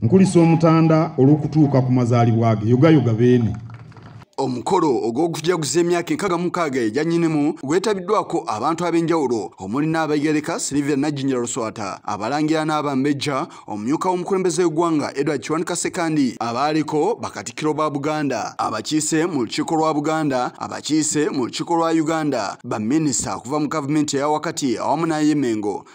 Nkulisa omutanda olw'okutuuka ku mazaalibwa ge yogayoga beene. Omukolo ogw'okujaguza emyaka enkaga mukaaga egya nnyinimu gwetabiddwako abantu ab'enjawulo omuli n'abayigereka Silivia Najjinja Luswata abalangira n'abambejja omumyuka w'omukulembeze w'eggwanga Edward Kiwanuka Ssekandi abaaliko bakatikkiro ba Buganda abakiise mu lukiiko lwa Buganda abakiise mu lukiiko lwa Uganda baminisita okuva mu gavumenti eya wakati awamu n'ay'emengo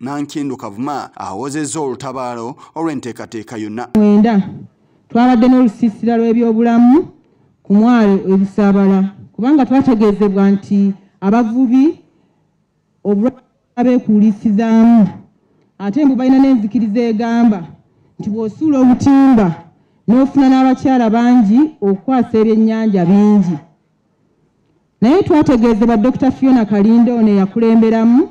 nankindu kavuma awozezza olutabaalo olw'enteekateeka yonna mwenda twabadde n'olusiisira lw'ebyobulamu ku mwalo ebisaabala kubanga twategeezebwa nti abavubi obulwabeekuulisizaamu ate mbu balina n'enzikiriza egamba nti bw'osuula obutimba n'ofuna n'abakyala bangi okukwasa ebyennyanja bingi naye twategeezebwa dokita fiona kalindo ono eyakulemberamu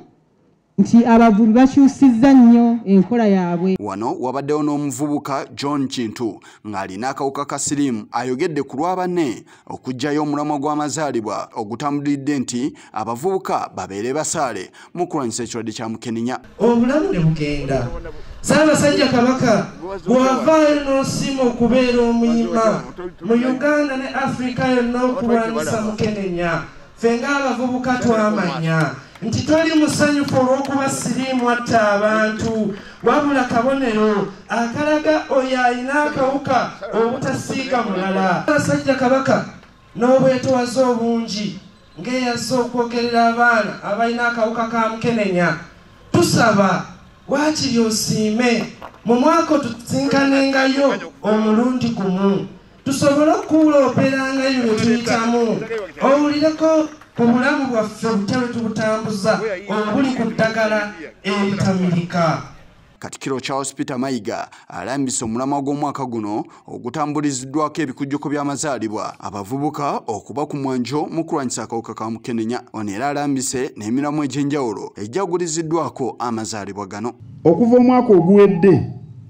nti abavubi bakyusizza nnyo enkola yaabwe wano wabaddewo n'omuvubuka john kintu ng'alina akawuka ka siriimu ayogedde ku lwa banne okuggyayo omulamwa gw'amazaalibwa ogutambulidde nti abavubuka babeere basaale mu kulwanyisa ekirwadde kya mukenenya obulamu ne bugenda saabasajja kabaka bw'avaayo n'osiima okubeera omuyima mu uganda ne afirika yonna okulwanyisa mukenenya ffe ng'abavubuka twamanya nti toli musanyufu olw'okuba siriimu atta abantu wabula kabonero akalaga oyo alina akawuka obutasiiga mulala abasajja kabaka n'obwetowaze obungi ng'eyazze okwogerera abaana abalina akawuka ka mukenenya tusaba waakiri osiime mu mwaka otusinkanengayo omulundi gumu tusobole okuwulooperanga ebyo bye tuyitamu owulireko ku bulamu bwaffe butya bwe tubutambuza obuli ku ddagala eritamirika katikiro charles peter mayiga alambise omulamwa gw'omwaka guno ogutambuliziddwako ebikujjuko by'amazaalibwa abavubuka okuba ku mwanjo mu kulwanyisa akawuka ka mukenenya ono era alambise n'emiramwa egy'enjawulo egyaguliziddwako amazaalibwa gano okuva omwaka oguwedde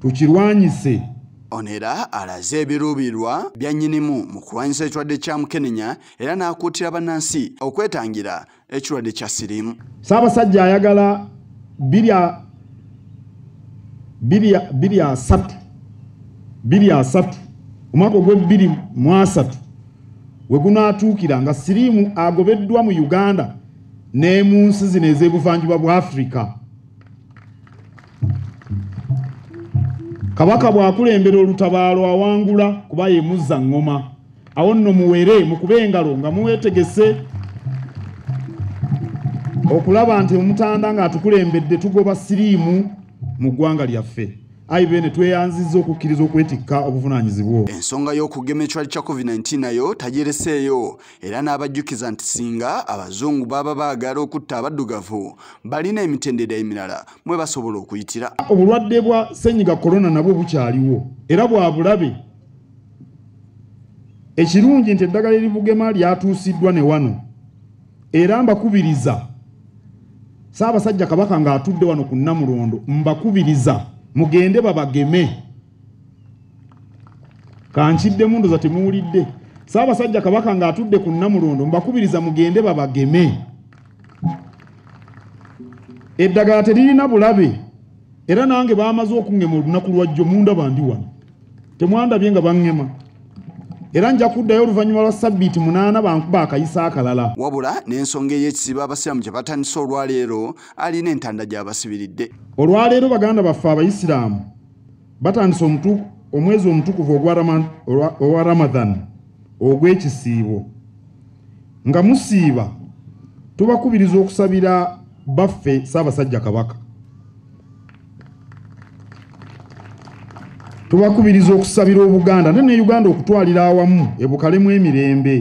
tukirwanyise ono era alaze ebiruubirirwa bya nnyinimu mu kulwanyisa ekirwadde kya mukenenya era n'akuutira bannansi okwetangira ekirwadde kya siriimu ssaabasajja ayagala biri asatu biri asatu omwaka ogw'ebbiri mu asatu we gunaatuukira nga siriimu agobeddwa mu uganda ne mu nsi zino ez'ebuvanjuba bwa afirika kabaka bw'akulembera olutabaalo awangula kuba ye muzza ŋŋoma awo nno muwere mukube engalo nga muwetegese okulaba nti omutanda ng'atukulembedde tugoba siriimu mu ggwanga lyaffe ayi bene tweyanzizza okukkiriza okwetikka obuvunaanyizibwa ensonga y'okugema ekirwadde kya covid-19 nayo tagyereseeyo era n'abajjukiza nti singa abazungu baba baagala okutta abaddugavu balina emitendera emirala mwe basobola okuyitira obulwadde bwa senyiga korona nabwo bukyaliwo era bwa bulabe ekirungi nti eddagala eribugema lyatuusiddwa ne wano era mbakubiriza saabasajja kabaka ng'atudde wano ku nnamulondo mbakubiriza mugende babageme kankiddemu ndoza temuwulidde saabasajja kabaka ng'atudde ku nnamulondo mbakubiriza mugende babageme eddagala teririna bulabe era nange baamaze okungema olunaku lwajjo mundaba ndi wano temwandabye nga bangema era nja kuddayo oluvannyuma lwa sabbiiti munaana bankuba akayisa akalala wabula n'ensonga ey'ekisiba abasiraamu gye batandise olwaleero alina entanda gy'abasibiridde olwaleero baganda baffe abayisiraamu batandise omwezi omutukuvu owa ramadhan ogw'ekisiibo nga musiiba tubakubiriza okusabira baffe ssaabasajja kabaka tubakubiriza okusabira obuganda ne ne uganda okutwalira awamu ebukalemu emirembe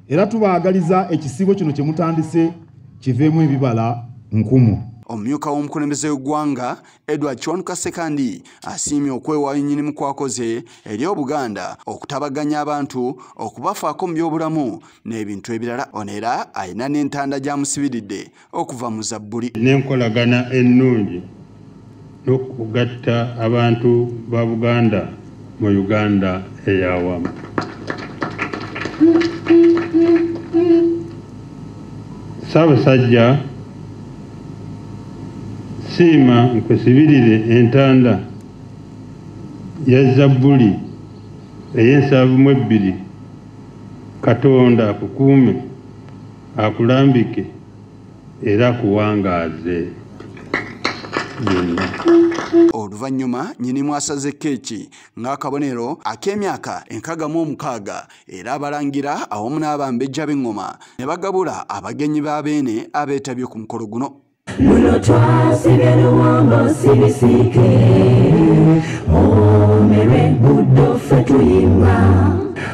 era tubaagaliza ekisiibo kino kye mutandise kiveemu ebibala nkumu omumyuka w'omukulembeze w'eggwanga edward chon kasekandi asiimye okwewaayo nnyinimu kwakoze eri obuganda okutabaganya abantu okubafaako mu byobulamu n'ebintu ebirala ono era alina n'entanda gyamusibiridde okuva mu zabbuli n'enkolagana ennungi n'okugatta abantu ba buganda mu Uganda ey'awamu. Ssaabasajja, siima nkusibirire entanda ya Zabbuli ey'ensavu mu ebbiri, Katonda akukuume, akulambike. era akuwangaaze byonna oluvannyuma nyinimu asaze keeki ng'akabonero ak'emyaka enkaga mu omukaaga era abalangira awamu n'abambejja b'eŋŋoma ne bagabula abagenyi ba beene abeetabye ku mukolo guno luno twasibye luwombo sibisiike omerwe buddo ffe tuyimba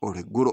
olweggulo